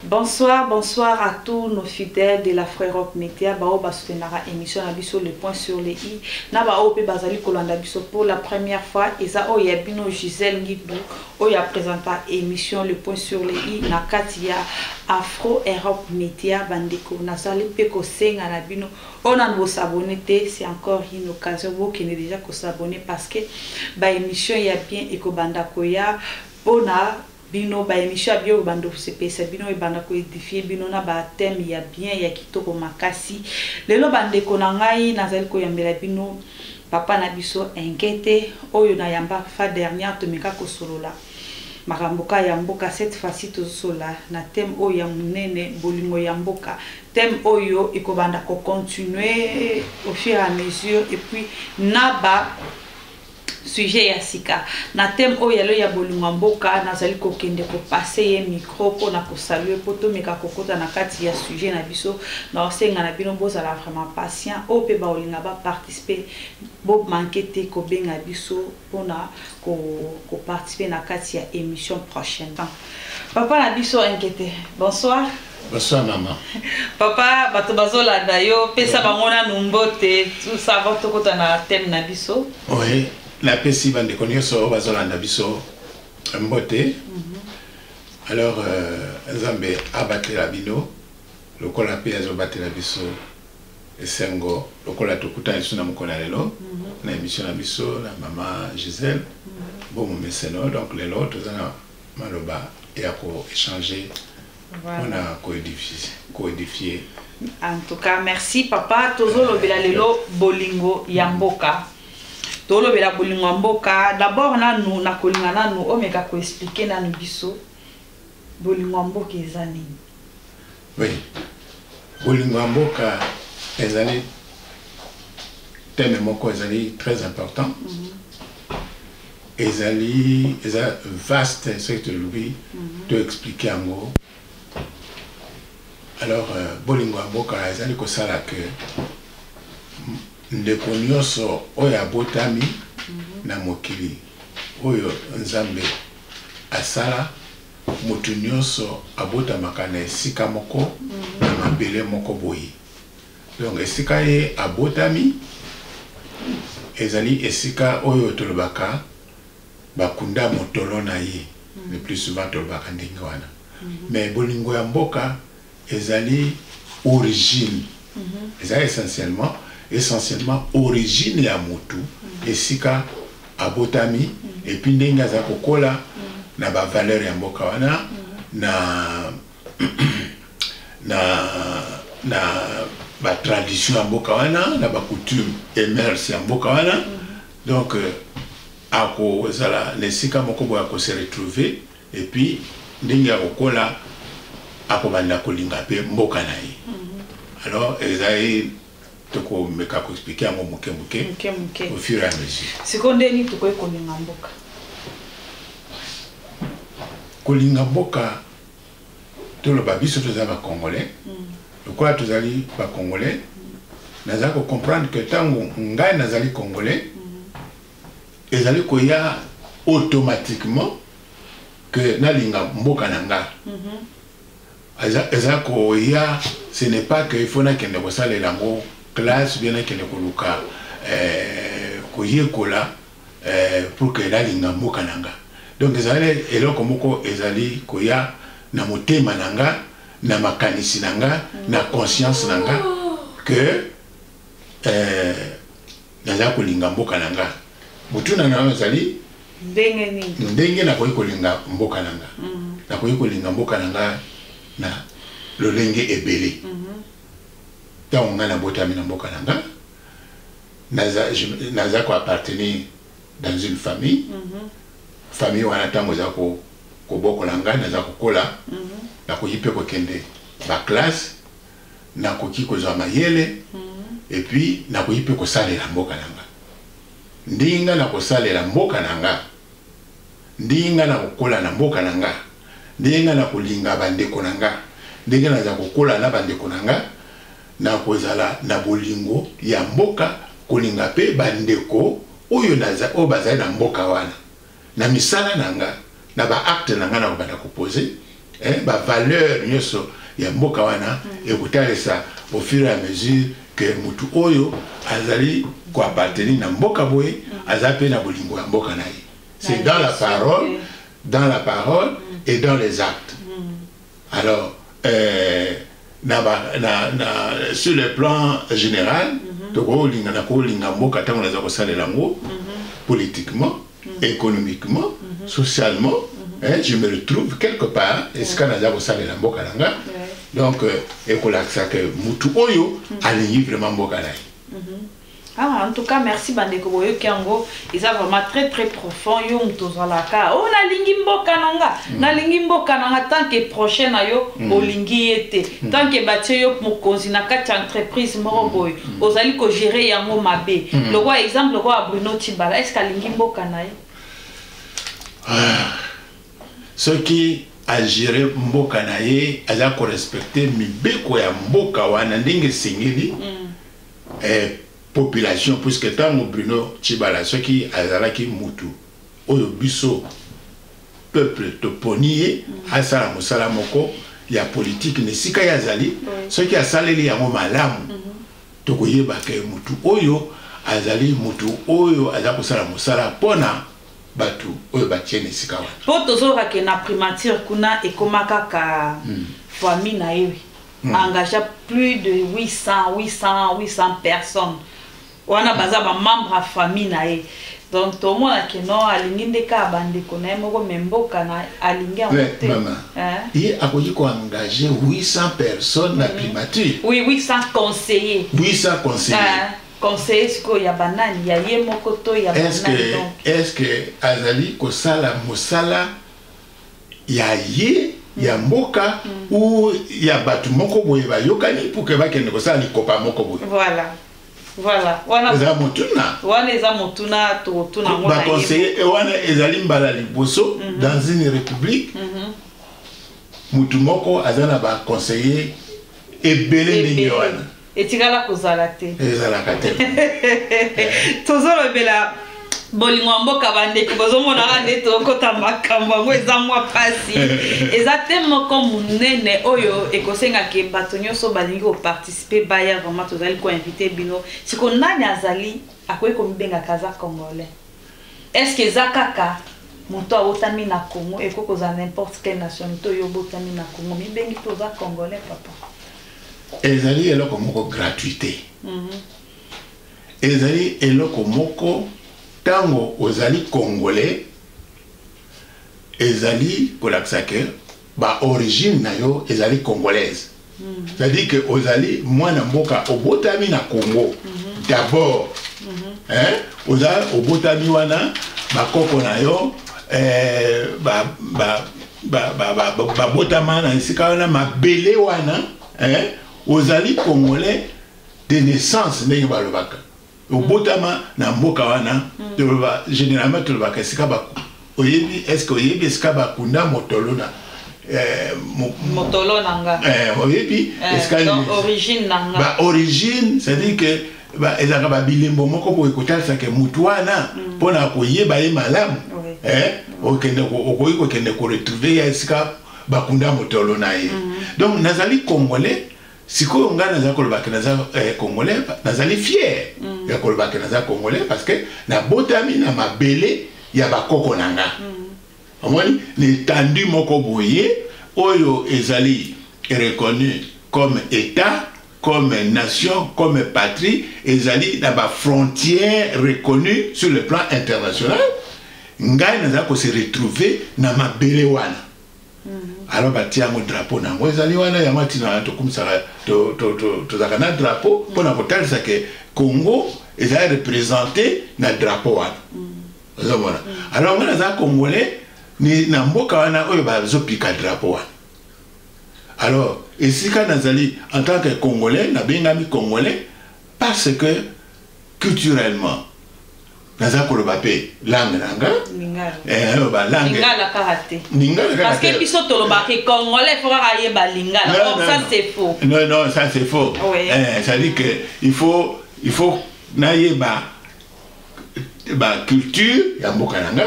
Bonsoir bonsoir à tous nos fidèles de la Frerock Media baoyo ba soutenaka émission na biso le point sur le i na baoyo mpe bazali kolanda biso pour la première fois eza oyo ya bino Gisèle Ngidbu oyo ya présenta émission le point sur le i na kati ya Afro Europe Media bandeko nazali mpe kosenga na bino oyo nanu bosabone te c'est encore une occasion bokende déjà kosabone parce que ba émission ya bien ekobanda koya mpona Bino ba emission ya biobe bando sepelisa bino ebanda ko edifier bino na ba thème ya bien ya kitoko makasi lelo ba ndeko na ngai nazali koyambela bino papa na biso enkete oyo na yamba fa dernière tomeka kosolola makambo ka ya mboka cette fois ci tozosolola na thème oyo ya monene bolingo ya mboka thème oyo ekobanda ko continuer au fur et à mesure et puis na ba sujet ya sika na thème oyo ya lelo ya bolingo ya mboka nazali kokende kopase ye micro mpo na kosalue mpo tomeka kokota na kati ya sujet na biso na osenga na bino bozala vraiment patient oyo mpe baolinga baparticipe bomanke te kobenga biso mpo na koparticipe na kati ya émission prochaine papa na biso inquiete bonsoir Bonsoir maman. Papa, bato bazolanda yo, pesa mm. bango nanu mbote, tout ça avant tokota na thème na biso. Oui, napesi bandeko nyonso oyo bazolanda biso mbote. Mhm. Alors euh, Nzambe abatela bino lokola mpe azobatela biso esengo lokola tokutani lisusu na mokolo ya lelo mhm. na émission na biso na mama Gisèle mhm. bomomeseno donc lelo toza na maloba ya koechange Voilà. On a codifié. codifié. En tout cas, merci papa. Tozo lobela lelo bolingo ya mboka. Tozo lobela bolingo ya mboka. D'abord nanu na kolinga nanu omeka ko expliquer nanu biso bolingo ya mboka eza nini? Oui. Bolingo ya mboka ezali thème moko ezali très important. Mm -hmm. ezali eza vaste soki tolobi mhm. to explike yango alors euh, bolingo ya mboka ezali kosala ke ndeko nyonso oyo abotami mhm. na mokili oyo nzambe asala moto nyonso abotamaka na esika moko mhm. na mabele moko boye Donc esika ye abotami ezali esika oyo tolobaka bakunda motolo na ye mm. le plus souvent tolobaka ndenge wana mm -hmm. mais bolingo ya mboka ezali origine mm -hmm. eza essentiellement essentiellement origine ya motu mm -hmm. esika abotami mm -hmm. epuis ndenge aza kokola mm -hmm. na bavaleur ya mboka wana mm -hmm. na na na ba tradition ya mboka wana na ba coutume et mœurs ya mboka wana donc euh, akozala na esika moko boye akose retrouver et puis ndenge ya kokola akobanda kolinga mpe mboka na ye mhm. alors ezali tokomeka koexplike yango moke moke au fur et à mesure sikoyo nde nini tokoki kolinga mboka kolinga mboka toloba biso toza ba congolais mm. lokola tozali ba congolais nazali kocomprendre que ntango ngai nazali congolais mm-hmm. ezali koya automatiquement que nalinga mboka na nga mm-hmm. eza koya ce n'est pas que ifo nakende kosalela yango classe bie nakende koluka eh, koyekola eh, pour que nalinga mboka na nga donc ezali eloko moko ezali koya na motema na nga na makanisi na nga na conscience na nga que eh, naza kolinga mboka na nga motuna na yo ezali ndenge nini ndenge nakoki kolinga mboka na nga mm. nakoki kolinga mboka na nga na lolenge ebele mm-hmm. ntango mm -hmm. ngai nabotami na mboka na nga naza je naza ko appartenir dans une famille mm -hmm. famille wana ntango eza ko kobokola ngai naza kokola mm -hmm. nakoki mpe kokende baklasse nakoki kozwa mayele mm -hmm. epuis nakoki mpe kosalela mboka na nga ndenge ngai nakosalela mboka na nga ndenge ngai nakokola na mboka na nga ndenge ngai nakolinga bandeko na nga ndenge naza kokola na bandeko na nga Na kozala na bolingo ya mboka, kolinga mpe bandeko oyo bazali na mboka wana, na misala na nga, na ba actes na nga, nakobanda ko poser ba valeurs nionso ya mboka wana, ekotalisa au fur et à mesure que mutu oyo azali ko appartenir na mboka boye, aza mpe na bolingo ya mboka na ye. C'est dans la parole, dans la parole et dans les actes. Alors, euh, na ba, na, na, sur le plan général, mm -hmm. tokolinga na kolinga mboka ntango naza kosalela yango mm -hmm. politiquement, mm -hmm. économiquement, mm -hmm. socialement, mm -hmm. eh, je me retrouve quelque part esika mm -hmm. naza kosalela mboka na nga donc euh, ekolakisa ke mutu oyo mm -hmm. alingi vraiment mboka na ye mm -hmm. Ah, en tout cas, merci bandeko boyoki yango eza vraiment très très profond yo moto ozalaka o oh, nalingi mboka na nga mm. nalingi mboka na nga tant que prochain na yo mm. olingi ye te mm. tant que batie yo mokonzi na kati ya entreprise moko boye ozali kogere yango mabe lokola exemple lokola bruno tibala estce alingi mboka na ye ah, soki agere mboka na ye aza korespecte mibeko ya mboka wana ndenge esengeli mm. eh, population puisque ntango bruno chibala soki azalaki mutu oyo biso peuple toponi ye asala mosala moko ya politike na esika ye azali soki asaleli yango malamu mhm. tokoyeba ke mutu oyo azali mutu oyo aza kosala mosala mpona bato oyo batie na esika wana mpo tozoloka ke na primature kuna ekoma kaka hmm. famille na ye hmm. engagea plus de 800 800 800 personnes wana baza bamembre ya famille na ye donc tomona ke no alingi nde kaka bandeko na ye moko me mboka na alingi yango te ye akoki koengage 800 personnes na primature oui 800 conseiller 800 conseiller conseiller sikoyo ya banani ya ye moko to ya banani donc est ce que azali kosala mosala ya ye ya mm. mboka mm. ou ya bato moko boye bayokani pour que bakende kosala likopa moko boye voilà voilà wana eza motuna wana eza motuna tokotuna ngo ba conseiller eh, wana ezali mbala liboso mhm. dans une république mhm. motu moko aza na ba conseiller ebele ndenge wana etikala kozala te ezalaka te tozolobela bolingo ya mboka bandeko bozomonaka nde tokota makambo yango eza mwa mpasi eza te moko monene oyo ekosenga ke bato nyonso balingi koparticipe baya vraiment tozali koinvite bino siko nani azali akoki komibengaka aza congolais estce eza kaka moto awotami na congo ekoki kozala n'importe quelle nationalité oyo obotami na congo mibengi mpe oza congolais papa ezali eloko moko gratuit te mhm. ezali eloko moko ntango ozali congolais ezali kolakisa ke baorigine na yo ezali congolaise mhm. c'est-à-dire ke ozali mwana mboka obotami na congo mhm. d'abord eh, oza obotami wana bakoko na yo eh, ba, ba, babotama na esika wana mabele wana eh, ozali congolais de naissance ndenge balobaka obotama na mboka wana mm. toloba généralement tolobaka esika baku oyebi estce oyebi esika bakunda motolona eh, motolo na nga eh, oyebi esika origine na nga ba origine c'est-à-dire que ba, ezalaka babilembo moko boye kotalisa ke motu wana mm. mpo na koyeba ye malamu oui. eh, mm. okende okoki kokende koretrouve ya esika bakunda motolo na ye mm. donc nazali congolais sikoyo ngai nazali koloba ke naza eh, congolais nazali fier mm. ya koloba ke naza congolais parce que nabotami na mabele ya bakoko na nga mm. omoni na etandi moko boye oyo ezali reconnu comme état comme nation, comme patrie, ezali na ba frontières reconnues sur le plan international, ngai naza ko se retrouver na mabele wana. Mhm. Alors batia yango drapeau na yango ezali wana yango atina tokumisaka tozalaka na drapeau mpo na mhm. kotalisa ke Congo ezali représente na drapeau wana mhm. ozomona alors ngai naza congolais na mboka wana oyo bazopika drapeau wana alors esika nazali en tant que congolais nabengami congolais parce que culturellement naza koloba mpe langue na nga aloba eh, languelingala kaka te parce que biso tolobaka congolais fo kaka ayeba lingala donc ça c'est faux non non ça c'est faux eh, ça dit que il faut il faut nayeba baculture ya mboka na nga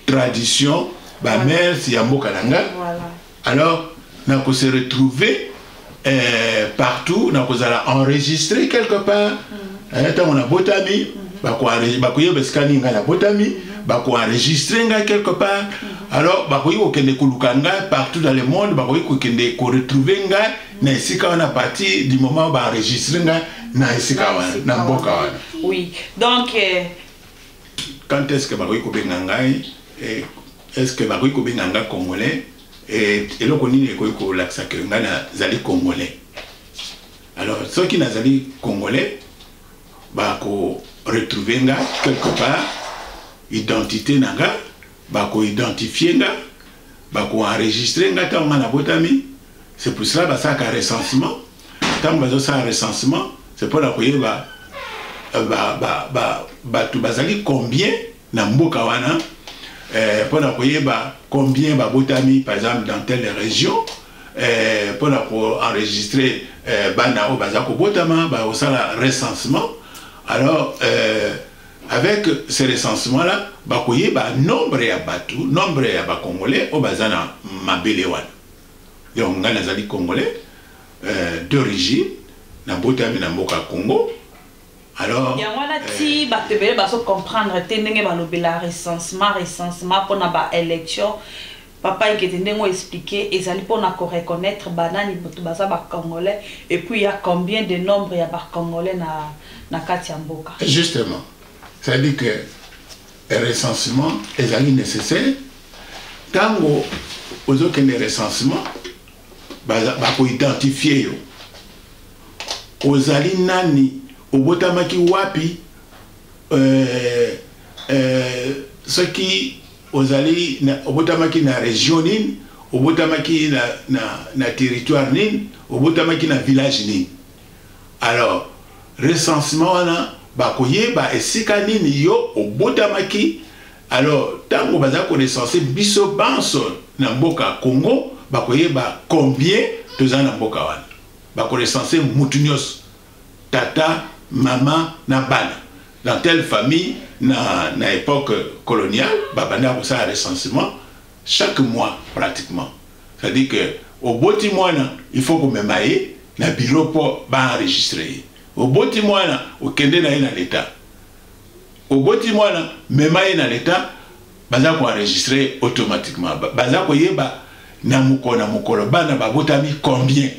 tradition ba voilà. mers ya mboka na nga voilà. alors nako se retrouver euh, partout nakozala enregistré quelque part mm -hmm. eh, ntango nabotami mm -hmm. bakoyeba esika nini ngai nabotami mm -hmm. bakoenregistre ngai quelque part mm -hmm. alors bakoki kokende koluka ngai partout dans le monde bakoki kokende koretrouve ngai mm -hmm. na esika wana partir du moment baenregistre ngai na esika wana na mboka wana oui donc euh... Quand est-ce que bakoki kobenga ngai eh, est-ce que bakoki kobenga ngai congolais eh, eloko nini ekoki kolakisa ke ngai nazali congolais alors soki nazali congolais bako retrouver nga quelque part identité na nga bako identifier nga bako enregistrer nga ntango nga nabotami c'est pour cela basalaka recensement ntango bazosala recensement c'est mpo na koyeba euh, bato bazali combien na mboka wana euh, mpo na koyeba combien babotami par exemple dans telle région euh, mpo na koenregistrer bana oyo baza kobotama bakosala recensement alors Avec ce recensement là bakoyeba nombre ya batu nombre ya ba congolais oyo baza na mabele wana donc ngai nazali congolais euh, d'origine nabotami na mboka ya Congo alors yango wana euh, ti euh, bato ebele bazo comprendre te ndenge balobela recensement recensement mpona ba élection Papa Ekete ndenge o expliquer ezali pona ko reconnaitre ba nani batu baza ba congolais et puis il ya combien de nombre ya ba congolais na na kati ya mboka. Justement, ça dit que recensement ezali necessaire tango ozokende recensement bako identifier yo ozali nani obotamaki wapi euh, euh, soki Ozali na, obotamaki na region nini? Obotamaki na, na, na territoire nini? Obotamaki na village nini? Alors, recensement wana bakoyeba esika nini yo obotamaki. Alors, tango baza ko recenser biso banso na mboka Congo, bakoyeba combien toza na mboka wana. Bako recenser mutu nyoso. tata, maman na bana dans telle famille na na epoque coloniale ba bandaki kosala recensement chaque mois pratiquement c'est à dire que oboti mwana il faut komema ye na bureau mpo ba enregistre ye oboti mwana okende na ye na l'etat oboti mwana mema ye na leta baza koenregistre automatiquement baza koyeba na mokolo na mokolo bana babotami combien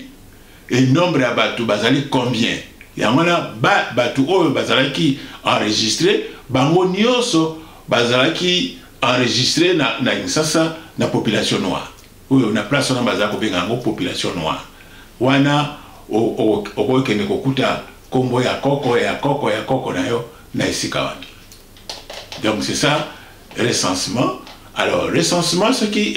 Et nombre ya batu bazali combien? Yango wana ba batu oyo bazalaki enregistrer bango nionso bazalaki enregistrer na na Kinsasa na population noire oyo na place wana bazali kobenga yango population noire wana okoki kende kokuta kombo ya koko ya koko ya koko na yo na esika wana donc c'est ça recensement alors recensement soki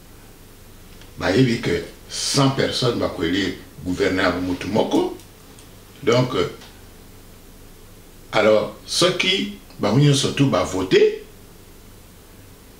bayebi que 100 personnes bako elire gouverneur ya mutu moko donc euh, alors soki bango nyonso tu bavote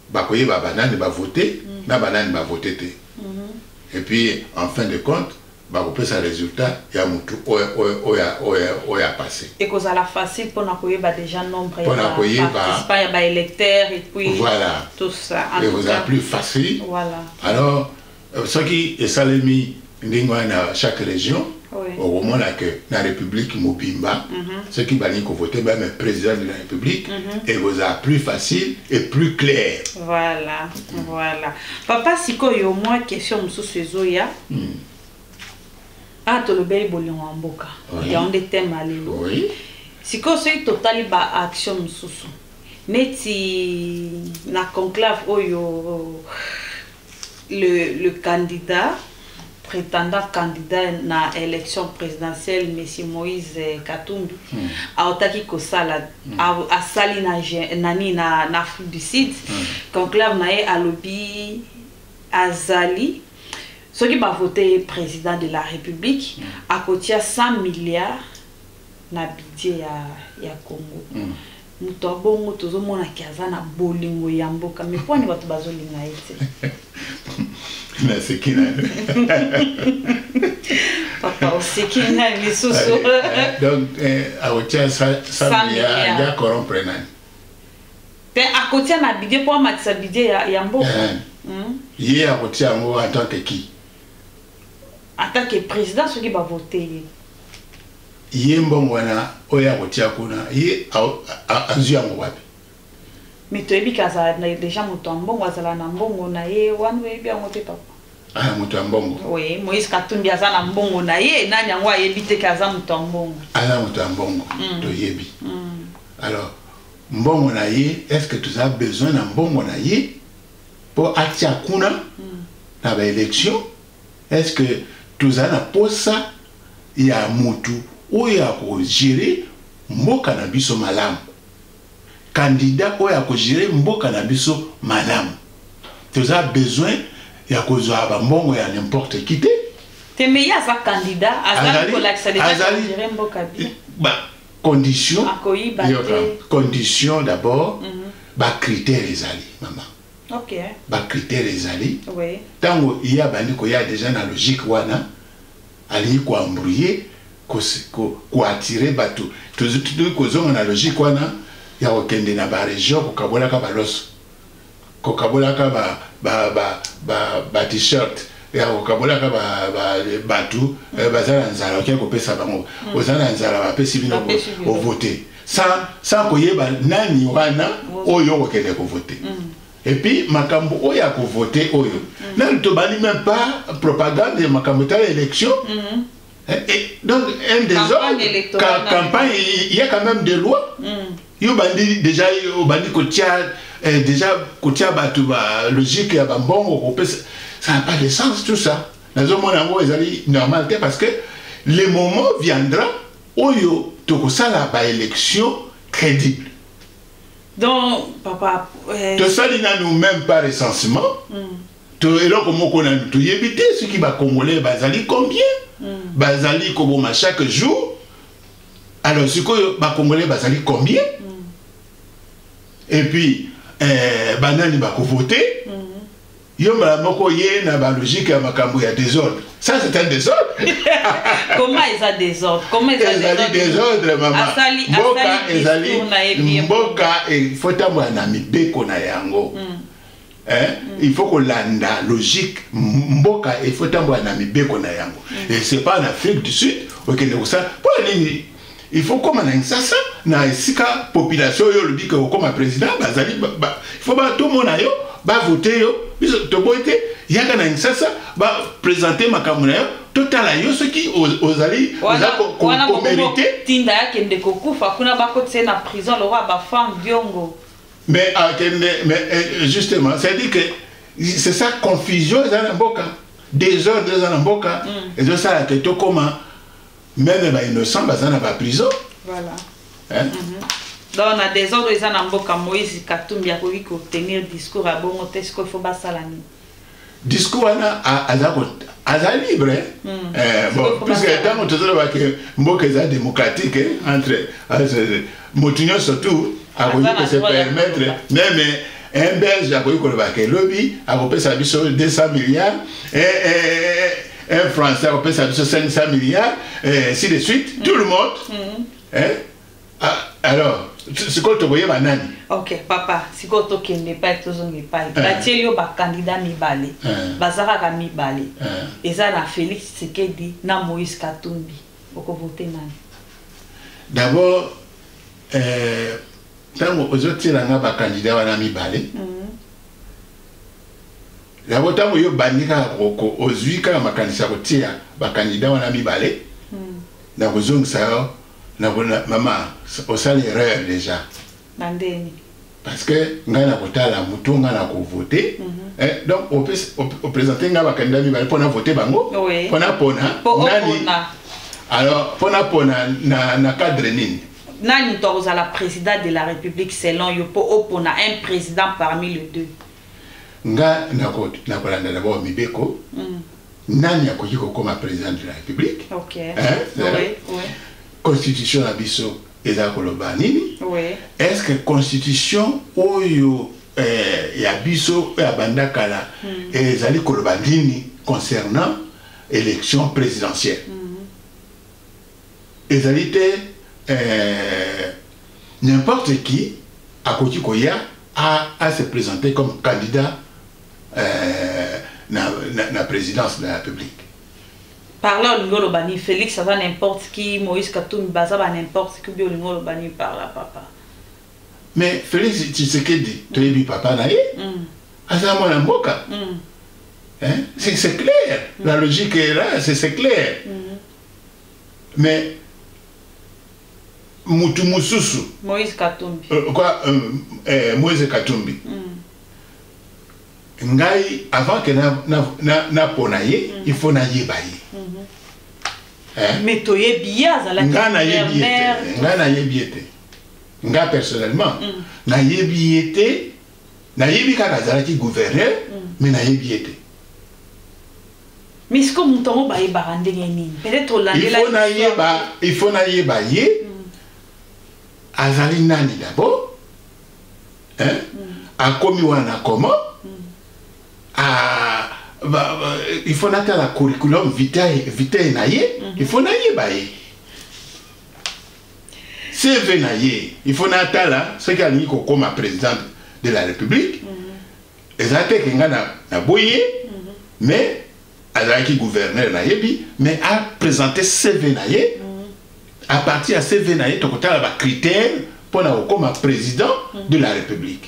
bakoyeba banani bavote mm. na banani bavote te mm -hmm. et puis en fin de compte Bakopesa resultat ya mutu oyo a passe. Ekozala facile pona koyeba dejà nombre ya ba participants ya ba electeurs et puis voilà. tout ça. Ekozala plus facile. Voilà. Alors euh, soki esalemi ndenge wana na chaque région oui. okomona ke na république mobimba mm -hmm. soki balingi kovote bame président de la république mm -hmm. ekozala plus facile et plus clair voilà voilà papa sikoyo mwa question mosusu ezoya Hmm. awa ah, tolobeli bolingo ya mboka yango nde teme ya lelo sikoyo soki totali baaction mosusu neti na conclave oyo le, le candidat prétendant candidat na élection présidentielle monsieur moïse katumbi hmm. autaki kosala hmm. asali na nani na, na afrique du sud hmm. conclave na ye alobi azali soki ba vote ye president de la republique mm. akotia 100 milliards na budget ya, ya congo mm. moto ya bongo tozomona ke aza na bolingo ya mboka me pwani bato bazolinga ye te naseki na papa oseki ngai lisusu donc eh, akotia 100 milliards ya corrompre nani te akotia na budget mpo amatisa budget ya, ya mboka eh. hmm? ye akotia yango en tant que qui en tant que président soki bavote ye ye mbongo wana oyo akotia kuna ye azwi yango wapi me toyebi ke azala deja moto ya mbongo azala na mbongo na ye wana oyebi yango te papa ah, moto ya mbongo oui moïse katumbi aza na mbongo na ye nani yango ayebi te ke aza moto ya mbongo aza moto ya mbongo mm. toyebi mm. Alors mbongo na ye est-ce que tu as besoin na mbongo na ye po atia kuna mm. na ba élection est-ce que tu as na posa ya mutu oyo akogere mboka na biso malamu kandida oyo akogere mboka na biso malamu toza besoin ya kozwa bambongo ya n'importe qui te te meye aza kandida azali kolakisa azali mboka condition condition d'abord mm -hmm. bacritère ezali mama okay. bacritère ezali oui. ntango ye abandi koya deja na logique wana alingi koembrouye koatire bato tozwi kozonga na logique wana ya kokende na baregion kokabolaka baloso kokabolaka ba ba ba ba, ba t-shirt ya kokabolaka bato eh, baza na nzala okei kopesa bango hmm. oza na nzala bapesi bino ovote sans koyeba nani wana oyo okokende kovote hmm. epuis makambo oyo ya kovote oyo hmm. nani tobandi meme pas propagande ya makambo etala élection Eh, eh, donc un des hommes campagne il y a quand même des lois mm. yo bandi déjà yo bandi kotia eh, déjà kotia bato ba logique ya bambongo kopesa ça n'a pas de sens tout ça nazomona yango ezali normal te parce que le moment viendra oyo tokosala baélection crédible donc papa eh... tosali nanu même pas recensement mm. to eloko moko na toyebi te soki bacongolais bazali combien mm. bazali koboma chaque jour alors sikoyo bacongolais bazali combien mm. et puis eh, banani bakovote mm -hmm. yo mbala moko ye na balogique ya makambo ya désordre ça c'est un désordre comment eza désordre comment eza ezali désordre mama asali, mboka asali ezali mboka efotambola na mibeko na yango mm. Eh, il faut kolanda logique mboka il faut etambola na mibeko na yango mm. et c'est pas en afrique du sud okende kosala mpo na nini il faut koma na nsasa na esika population oyo olobi ke okoma président bazali il faut batomona yo bavote yo biso toboyi te yaka na nsasa bapresente makambo na yo totala yo soki ozali oza komerite tinda yakende kokufa kuna bakotise na prison lokwa bafam diongo mais akende ah, mais eh, justement c'est dit que c'est ça confusion eza na mboka désordre eza na mboka mm. ezosala te tokoma meme bainnocent baza na baprison voilà. hein? mm -hmm. donc na désordre eza na mboka moïse katumbi akoki kotenir discours ya bongo te sikoyo fo basala nini discours wana aza aza libre hmm. eh, bon puisque ntango tozoloba ke mboka eza démocratique eh, entre moto nyonso tout akoki kose permettre meme un belge akoki koloba ke lobi akopesa biso 200 milliards un français akopesa biso 500 milliards si de suite tout le monde hmm. eh? Ah, alors, sikoyo tokoyeba nani? Ok, papa, sikoyo tokende epai tozonga epai. Eh. Batie yo bakandida mibale, eh. baza kaka mibale. Eh. Eza na Felix Tshisekedi na Moïse Katumbi. Okovote nani? D'abord, euh, ntango ozotiela nga bakandida wana mibale mhm. yango ntango yo obandi kaka ozwi kaka makanisi ya kotia bakandida wana mibale mhm. na kozongisa yo nakona mama osali erreur deja na ndeni parce que ngai nakotala moto ngai nakovote mm -hmm. Eh, donc opresente ngai bakandida mibale mpo na vote bango mpo napona nani alors mpo napona na, na cadre nini nani to akozala président de la république selon yo mpo opona un président parmi le deux nga nako nakolanda d'abord mibeko mm. nani akoki kokoma président de la république okay. hein? oui, oui. constitution na biso eza koloba nini oui. est ce que constitution oyo eh, ya biso oyo abanda kala mm. ezali koloba nini concernant élection présidentielle mm. Ezali te eh, n'importe qui akoki koya a, a se presenter comme candidat eh, na, na, na présidence de la République. Par là, olingi oloba nini Felix aza n'importe qui, Moïse Katumbi baza ba n'importe qui, obi olingi oloba nini par là papa Mais Felix Tshisekedi, toyebi papa na ye, mm. aza mwana mboka. Mm. Hein? C'est clair, mm. la logique est là, c'est clair. Mm. mais mutu mususu Moïse Katumbi euh, quoi euh, eh, Moïse Katumbi mm. ngai avant que na na na, na pona ye mm. il faut na yeba ye mm -hmm. eh? mais to ye bien azala nga na ye bien nga na ye bien te nga personnellement mm. na ye bien te nayebi kaka azalaki gouverneur mm. mais nayebi ye te mais siko moto yango bayebaka ndenge nini peut-être olandelaifaut nayeba il faut nayeba ye mm. azali nani d'abord hein? mm. akomi wana comment mm. ah, ba, ba, il faut natala curriculum vitae, vitae na ye mm -hmm. il faut nayeba ye CV na ye il faut natala soki alingi kokoma président de la république mm -hmm. eza te ke nga naboyi ye mm -hmm. mais azalaki gouverneur nayebi mais apresente CV na ye mm -hmm. à partir ya CV na ye tokotala bacritère mpo na kokoma président mm -hmm. de la république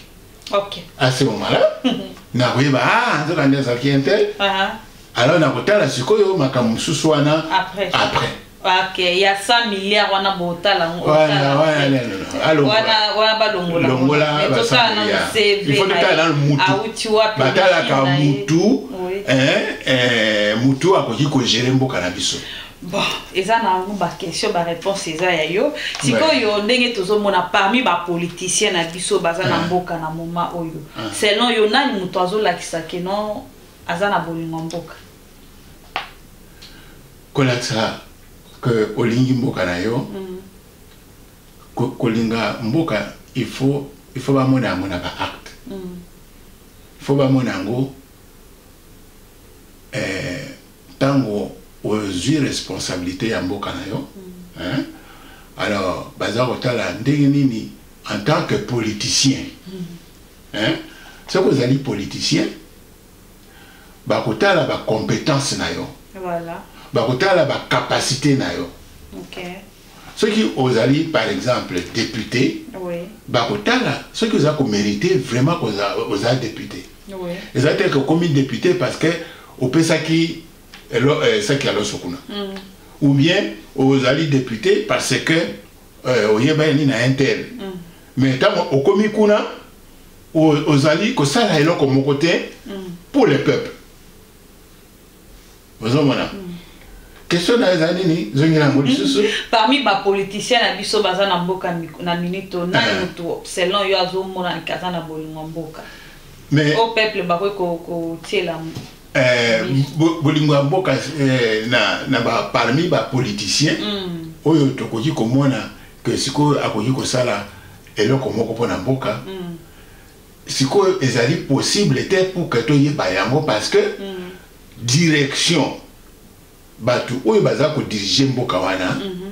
okay. à ce moment là mm -hmm. nakoyeba ah nzoka nde azalaki intel uh -huh. alors nakotala sikoyo makambo mosusu wana après, après. Okay, ya 100 milliard wana botala ngo wana wana wana wana balongola longola basaka na CV il faut tala na mutu auti wapi batala ka mutu eh eh mutu akoki ko gérer mboka na biso bon eza na yango baquestion baréponse eza ya yo sikoyo ndenge tozomona parmi bapoliticien na biso baza na mboka na moma oyo selon yo nani moto azolakisa keno aza na bolingo mboka kolakisa ke olingi mboka na yo mm. kolinga mboka il faut il faut bamona yango na baacte mm. il faut bamona yango eh, ntango ozwi responsabilité ya mboka na yo mm. alors baza kotala ndenge nini en tant que politicien mm. soki ozali politicien bakotala ba compétence na yo voilà. bakotala ba capacité na yo okay. soki ozali par exemple député oui. bakotala soki oza komérite vraiment oza, oza député oui. eza te okomi député parce que opesaki eh, saki ya loso kuna mm. ou bien ozali député parce que euh, oyebani na intel mm. mais ntango okomi kuna ozali kosala eloko moko te mm. pour le peuple ozomona mm. question na eza nini zongela yango lisusu mm. parmi bapoliticien na biso baza na mboka na minute oyo nani eh. moto selon yo azomona ke aza na bolingo ya mboka o peuple bakoki kotiela eh, bolingo ya mboka eh, na parmi bapoliticien oyo tokoki komona ke sikoyo akoki kosala eloko moko mpo na mboka mm. sikoyo ezali possible te pour que toyeba yango parce que mm. direction bato oyo baza kodirige mboka wana mm -hmm.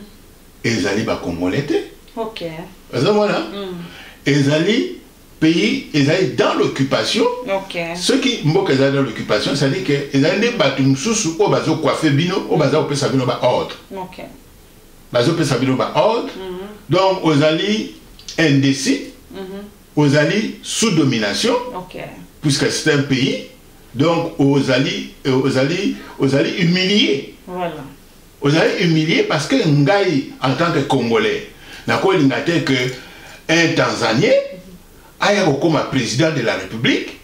ezali bakongole te okay. oza mona mm. ezali pays ezali dans l'occupation okay. soki mboka ezali dans l'occupation ezali ke ezali nde bato mosusu oyo bazokoife bino oyo baza kopesa bino baordre okay. bazopesa bino ba ordre mhm. donc ozali indécis mhm. ozali sous domination puisque c'est un pays donc ozali euh, ozali ozali humilié ozali humilié parce que ngai en tant que congolais nakolinga te que un tanzanien mhm. aya kokoma président de la république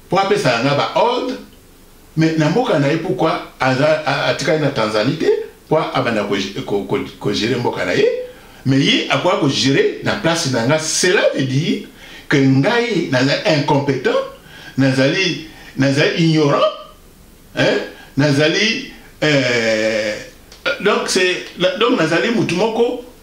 mpo apesaka ngai baordre mais na mboka na ye pourquoi aza atikali na Tanzanie te po abanda ko ko ko, ko gérer mboka na ye mais ye akoka ko gérer na place na nga cela veut dire que ngai naza incompetent nazali nazali ignorant hein nazali euh, donc c'est donc nazali mutu moko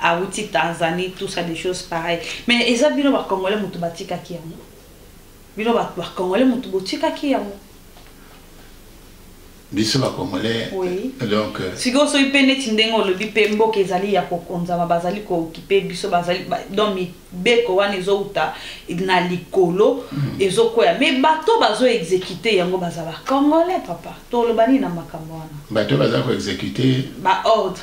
awuti tanzanie tout ça des choses pareil mais eza bino bacongolais motu batikaki yango bino bacongolais motu botikaki yango biso bacongolais donc euh, sikoyo soki mpe neti ndenge olobi mpe mboka ezali ya kokonzama bazali kookipe biso bazali donc mibeko wana ezowuta na likolo hmm. ezokwea mai bato bazo exekute yango baza bacongolais papa toloba nini na makambo wana bato baza koexekute baordre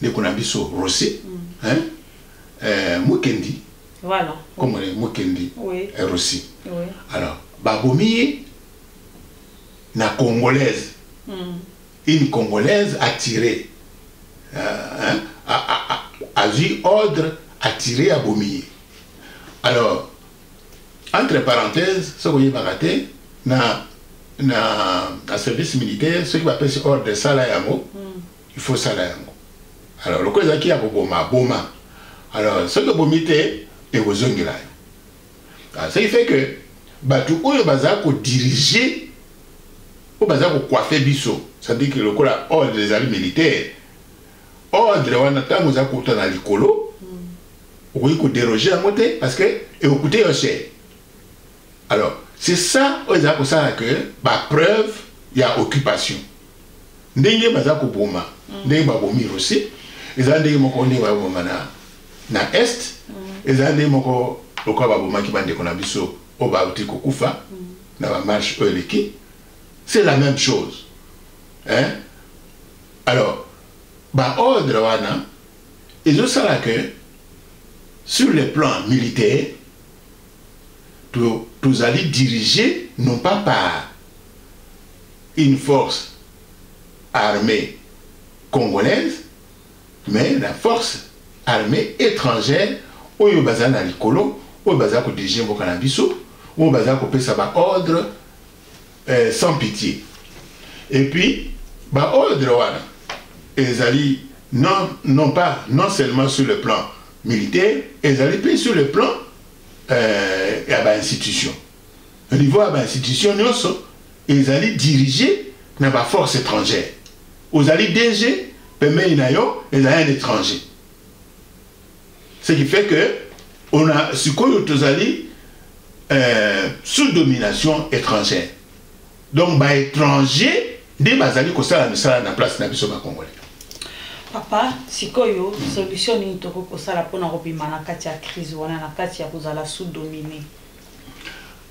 ndeko na biso Rossy mm. hein euh, Mukendi voilà comme on est Mukendi oui. Euh, Rossy oui. alors babomi ye na congolaise mm. une congolaise attirée euh, hein, a, a, a, azwi ordre attiré abomi ye alors entre parenthèse soki oyebaka te na na service militaire soki bapesi ordre esala yango mm. il faut sala yango alors loko ezalaki ya koboma aboma alors soki obomi te ekozongela yo ah, ce qui fait que bato oyo baza kodirige oyo baza kokoife biso sadiki lokola ordre ezali militaire ordre wana ntango oza kouta na likolo mm. okoki koderoge yango te parce que ekokute yo cher alors c'est ça oyo ezali kosala que bapreuve ya occupation ndenge baza koboma mm. ndenge babomi russie eza ndenge moko ndenge baboma na, na est mm. eza ndenge moko lokola babomaki bandeko na biso oyo bauti kokufa mm. na bamarche oyo eleki c'est la même chose hein? alors baordre wana ezosala ke sur le plan militaire tozali dirige non pas par une force armee congolaise mais na force armee etrangère oyo bazali na likolo oyo bazali kodirige mboka na biso oyo bazali kopesa baordre eh, sans pitié et puis baordre wana ezali non, non pas non seulement sur le plan militaire ezali mpe sur le plan euh, ya bainstitution na niveau ya ba institution nyonso ezali dirige na ba force étrangère ozali dg pembeni na yo ezali un étranger ce qui fait que on a sikoyo tozali euh, sous domination étrangère donc ba étranger nde bazali kosala misala na place na biso bacongolais papa sikoyo solution nini tokoki kosala mpona kobima na kati ya crise wana na kati ya kozala sous domine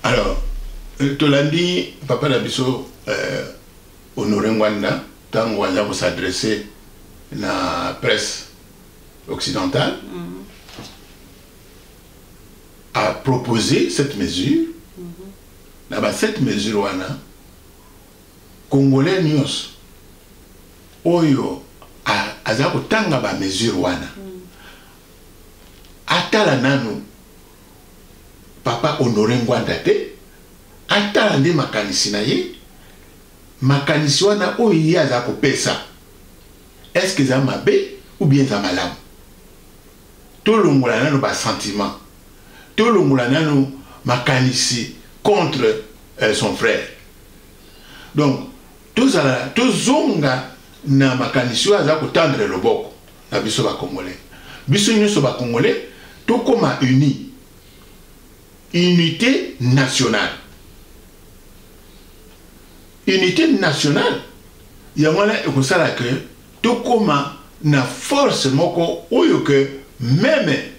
Alors, euh, tolandi papa na biso euh, Honore Ngwanda ntango aza kosadresse na presse occidentale mm -hmm. a proposé cette mesure mm -hmm. na ba cette mesure wana congolais nyonso oyo aza kotanga ba mesure wana mm -hmm. atala nanu papa honore ngwanda te atala nde makanisi na ye makanisi wana oyo ye aza kopesa eske eza mabe ou bien eza malamu tolongola nano basentiment tolongola nano makanisi contre euh, son frère donc tozala tozonga na makanisi oyo aza kotandre loboko na biso ba congolais biso nyoso ba congolais tokoma uni unité nationale unité nationale yango wana ekosala ke tokoma na force moko oyo ke meme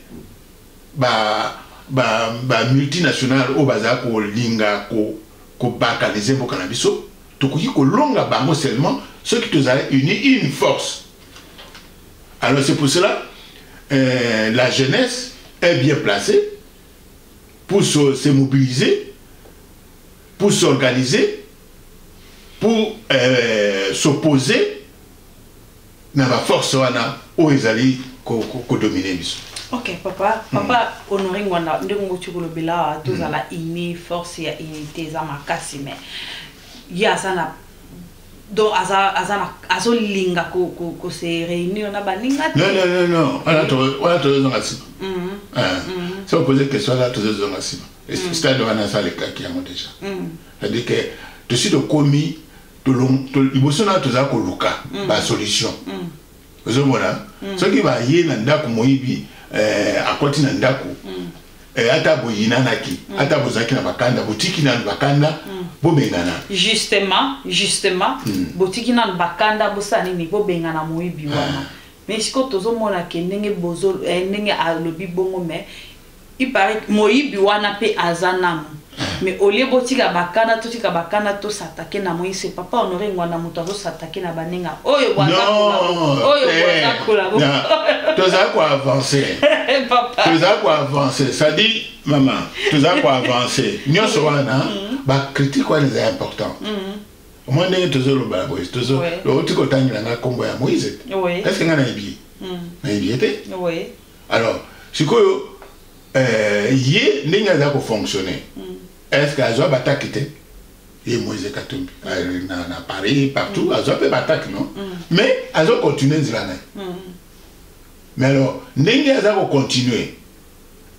ba ba ba multinationale oyo bazala kolinga ko kobalkanize mboka na biso tokoki kolonga bango seulement soki tozali uni une force Alors c'est pour cela, euh, la jeunesse est bien placée pour se, se mobiliser, pour s'organiser, pour euh, s'opposer na ba force wana oyo ezali kodomine ko, biso ok papa hmm. papa mm. honore ngwanda ndenge ngoti kolobela awa tozala mm. uni force ya unité eza makasi mai ye aza na donc aza aza na azo linga ko ko ko se réunir na baninga te non non non non wana to wana to zonga sima mhm. ah. mhm. so poser question là to zonga sima et mhm. stade wana ça le cas qui yango déjà c'est à dire que to si to komi to long to iboso na to za ko luka ba solution ozomona mm. soki baye na ndako moyibi eh, akoti na ndako mm. eh, ata boyinanaki mm. ata bozalaki na bakanda botiki nanu bakanda mm. bobengana justement justement mm. botiki nanu bakanda bosala nini bobengana moyibi wana ah. mais sikoyo tozomona ke ndenge bozo eh, ndenge alobi bongo mais Il paraît moyibi wana pe aza nanu. Mais au lieu botika bakana totika bakana to s'attaquer na moyi c'est papa Honore Ngwanda mutu azo s'attaquer na baninga oyo bwaza Non, oyo te. bwaza kola bo. Na- toza ko avancer Papa. toza ko avancer ça dit mama toza ko avancer nyonso wana ba critique wana eza important omoi ndenge tozoloba na boye tozo Ouais. outi kotangela nga nkombo ya moïse Oui. est ce que nga nayebi ye nayebi ye te Oui. alors sikoyo euh, ye ndenge aza kofonctionne mm. est ce que azwa bataki te ye moise katumbi mm. na, na paris partout mm. azwa mpe bataki non mm. mais azo continue nzela na ye mm. mais alors ndenge aza kocontinue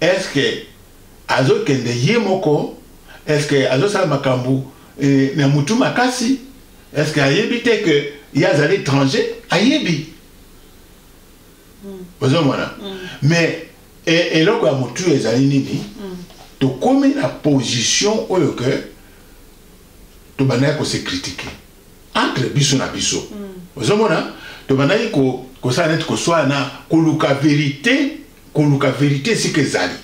est ce que azokende ye moko est ce que azosala makambo eh, na motu makasi est ce que ayebi te que ye azali étranger ayebi ozomona mais e, eloko ya motu ezali nini tokomi na position oyo ke tobandaki kose kritike entre biso na biso ozomona tobandaki kosala neti koswana koluka verite koluka verite esika ezali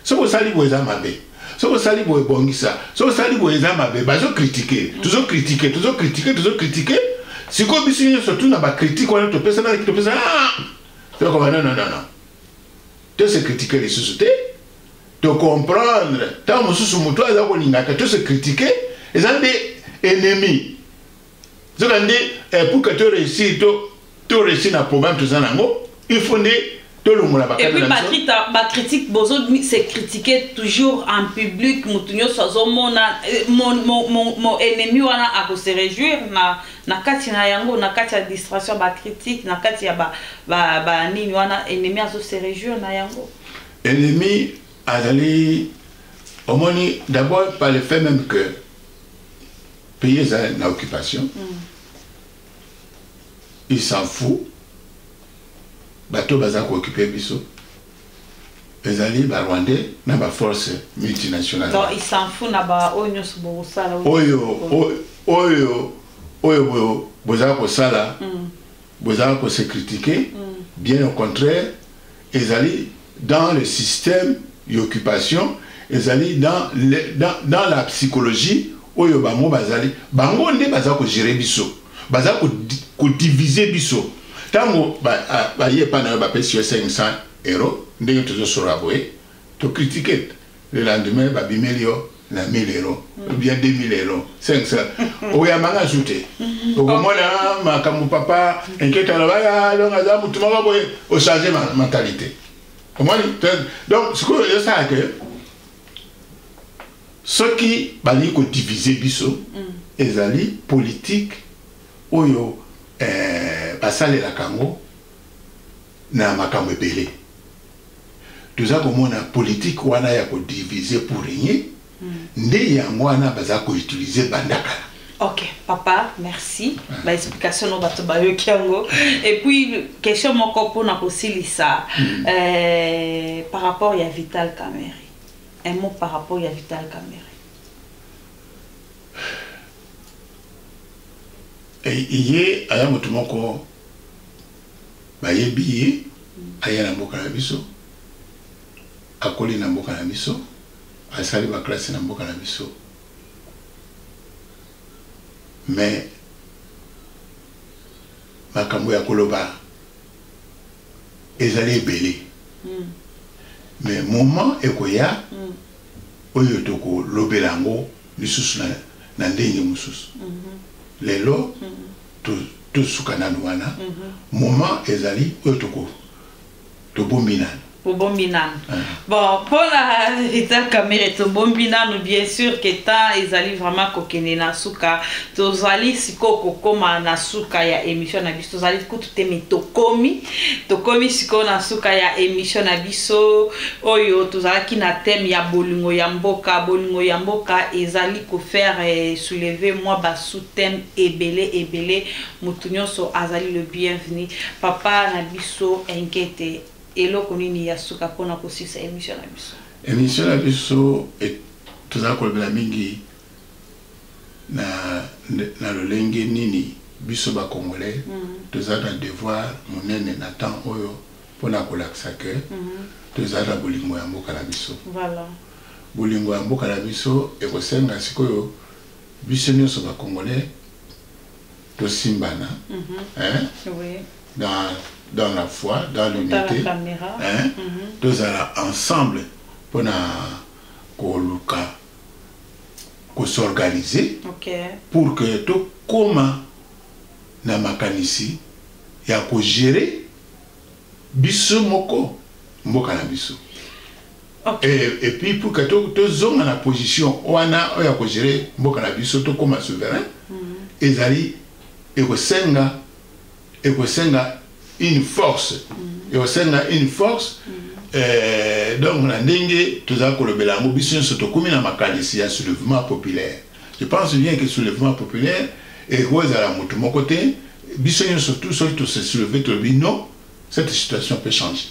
soki osali boye eza mabe soki osali boye bongisa soki osali boye eza mabe bazokritike tozokritike tozokritike tozokritike sikoyo biso nyonso tuna bakritike wana topesanaki topesana ah! tokoba nononnono tose kritike lisusu te tocomprendre ntango mosusu motu aza kolingaka tose kritike eza nde ennemi nzokande eh, pour que to réussir to to réussir na programme toza nango il faut nde tolongola bakata na biso. Et puis Patrita, ba critique bozo se critiquer toujours en public, mutu nyoso azomona eh, mon mon mon, mon ennemi wana ako se réjouir na na kati na yango na kati ya distraction ba critique na kati ya ba ba, ba nini wana ennemi azo se réjouir na yango. Ennemi azali omoni d'abord par le fait même que pays eza na occupation mm. il s'en fout bato baza kookipe biso ezali barwandais na baforce multinationale oyo oyo oyo bozala kosala mm. bozala kose kritike mm. bien au contraire Ezali dans le système y'occupation, ezali dans le, dans, dans la psychologie oyo bango bazali, bango nde baza ko gerer biso, baza ko, ko diviser biso. Tango ba, a, baye epai na yo bapesi yo 500 euros, ndenge tozosolola boye, to critiquer, le lendemain ba bimeli yo na 1000 euros ou bien 2000 euros 500 oyamba nga su te okomona makambo papa inketa na baya donc aza motu moko boye ochange mentalité omoni donc sikoyo ezosala ke soki balingi kodivise biso mm. ezali politike oyo eh, basalelaka yango na makambo ebele toza komona politique wana ya ko diviser pour régner hmm. nde yango wana baza ko utiliser banda kala Ok, papa, merci. Ah. Ba explication no bato ba yoki yango. Et puis question moko pona ko silisa hmm. euh par rapport ya Vital Kamerhe. Un mot par rapport ya Vital Kamerhe. Et il y a un mot Bayebi ye, aya na mboka na biso, akoli na mboka na biso, asali ba classes na mboka na biso. Mais makambo ya koloba ezali ebele. Mm. Mais moment ekoya mm. oyo tokolobela yango lisusu na, na ndenge mosusu. Mm -hmm. Lelo mm -hmm. tosuka nanu wana moment ezali oyo toko tobombi nanu tobombi nanu ah. bon mpona rita kamere tobombi nanu bien sûr que temps ezali vraiment kokende na suka tozali sikoyo kokoma na suka ya émission na biso tozali kutu te me tokomi tokomi sikoyo na suka ya émission na biso oyo tozalaki na thème ya bolingo ya mboka bolingo ya mboka ezali kofaire eh, souleve mwa bas sous thème ebele ebele mutu nionso azali le bienvenu papa na biso enkete eloko nini ya suka pona kosilisa emission na biso emission na biso et tozali kolobela mingi na, na lolenge nini biso bacongolais mm -hmm. toza na devoir monene na temps oyo mpo na kolakisa ke mm -hmm. toza na bolingo ya mboka na biso voilà. bolingo ya mboka na biso ekosenga sikoyo biso nionso ba congolais tosimbana hein dans dans la foi dans l'unité hein tozala ensemble pona koluka ko s'organiser pour que tokoma na makanisi ya ko gerer Biso moko mboka na biso. Okay. Et, et puis pour que to to zonga na position wana oyo ya ko gérer mboka na biso to koma souverain mm -hmm. ezali ekosenga ekosenga une force mm -hmm. ekosenga une force mm -hmm. Eh, donc na ndenge tozali kolobela yango biso nyonso tokómi na makanisi ya soulèvement populaire Je pense bien que soulèvement populaire ekoki ezala moto moko te biso nyonso tout soki to se soulever tolobi non cette situation peut changer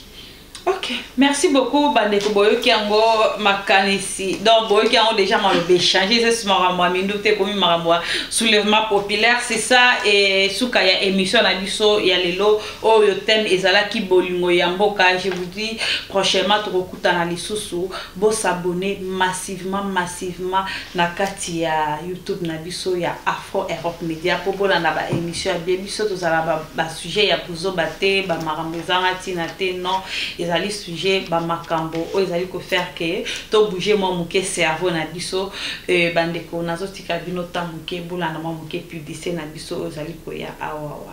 ok merci beaucoup bandeko boyoki yango makanisi donc boyoki yango déjà maloba échange eza si makambo ya mindu te ekomi makambo ya soulèvement populaire c'est ça et suka ya émission na biso ya lelo oyo thème ezalaki bolingo ya mboka je vous dis prochainement tokokutana lisusu Bo s'abonner massivement massivement na kati ya YouTube na biso ya Afro Europe Media po bolanda ba emissions ya bien. Biso tozala ba, ba sujets ya buzoba te, ba makambo ezanga tina te. Non, ezali sujet ba makambo oyo ezali ko faire que to bouger mwa moke cerveau na biso. Euh, bandeko nazotika bino temps moke bolanda mwa moke publicite na biso oyo ezali koya awa.